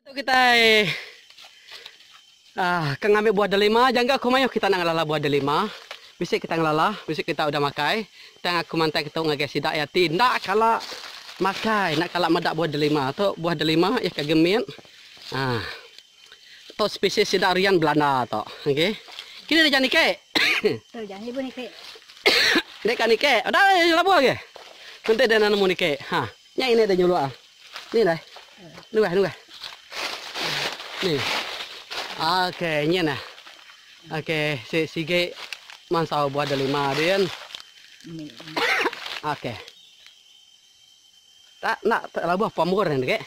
Tu kitai aaa ke ngambi buah delima jangka aku mayuh kita enda ngelala buah delima. Bisi kita ngelala, bisi kita udah makai tang aku mantai ketu ngagai sida iya ti enda kala makai, enda kala meda buah delima. Tu buah delima iya ke gemit aaa tu spesies sida rian belanda tu. Okey. Kini deka niki. Tu ja ibu niki. Deka niki. Udah labuh agi. Enti deh nemu niki. Ha. Nya ini deh nyuluk ah. Ni lah. Nungah nungah. Ni. Okey, nyen nah. Okey, si sigi mansau buah delima din. Okey. Tak nak tak labuh pamur ni dek.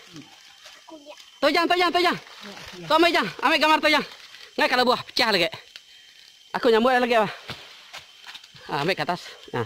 Tu jang, tu jang, tu jang. Tu ambil jang, ambil gambar tu jang. Ngai kalau buah pecah lagi. Aku nyambut lagi. Ah, ambil ke atas. Nah.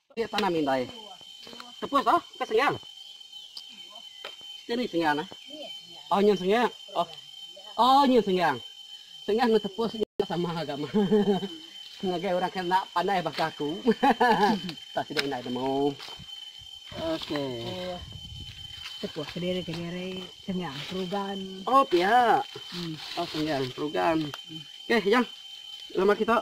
Ti tanam indai. Tepus oh, ke sengal. Sini sengal nah. Oh nyen sengal. Oh. Oh nyen sengal. Sengal nang tepus nyen sama agama. Ngagai orang kena pandai baka aku. tak sida indai nemu. Okey. Tepus kediri kediri sengal perugan. Oh pia. Hmm. Oh sengal perugan. Okey, jang. Lama kita.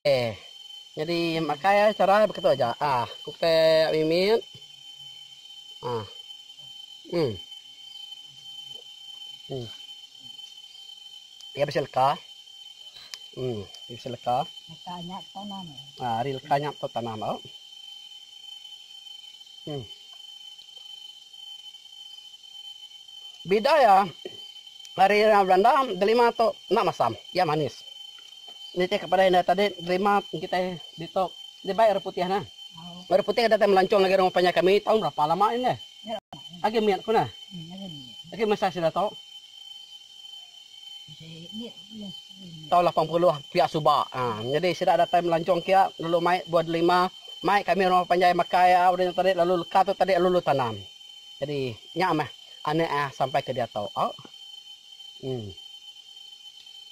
Okey. Nyadi makai ai chara ai beketu aja. Ah, kutek mimit. Ah. Hmm. Hmm. Iya bisi leka. Hmm, bisi leka. Leka nyap tanam. Ah, hari leka nyap tu tanam au. Hmm. Bida iya hari orang belanda delima tu enda masam. Iya manis. Nitihka pada indai tadi nerima kitai ditu dibai orang putih nah. Orang putih datai melancong lagi rumah panjai kami taun berapa lama ini deh. Agi mit ku nah. Agi masa sida tu. Taun 80 pia suba. Ha. Jadi sida datai melancong kia lalu mai buah delima. Mai kami rumah panjai makai au dia tadi lalu leka tu tadi lalu tanam. Jadi nya meh anak ah sampai ke diatu. Au. Hmm.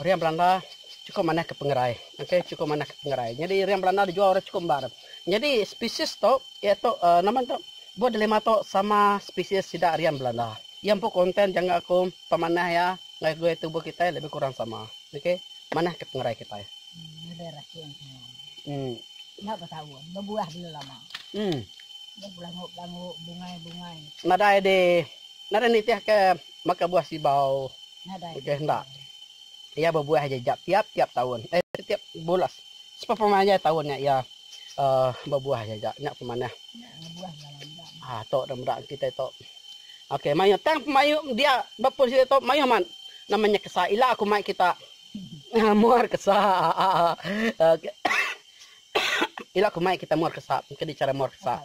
Orang Belanda chukup manah ke pengerai. Okay, chukup manah ke pengerai. Nyadi orang Belanda dijual orang chukup embar. Nyadi spesies tu, iya tu, uhh nama tu, buah delima tu sama spesies sida orang Belanda. Iya empu konten jangka aku pemanah iya enggau gaya tubuh kitai lebih kurang sama. Okay, manah ke pengerai kitai. Nadai rasi orang Cina. Uhh. Nya betaun, bebuah dulu lama. Uhh. Nya belangu-belangu, bungai-bungai. Nadai di, nadai nitihka. maka buah sibau udah enda. Iya bebuah aja ja tiap-tiap taun. Eh tiap bulas. Sepepemanjai taun nya iya uh, bebuah aja ja. Nya pemanah. Ah tok dah meda kita tok. Okey, mayuh tang pemayu dia bepun sida tok mayuh man. Namanya kesa ila aku mai kita. muar kesa. Okey. ila aku mai kita muar kesa. Kedi cara muar kesa.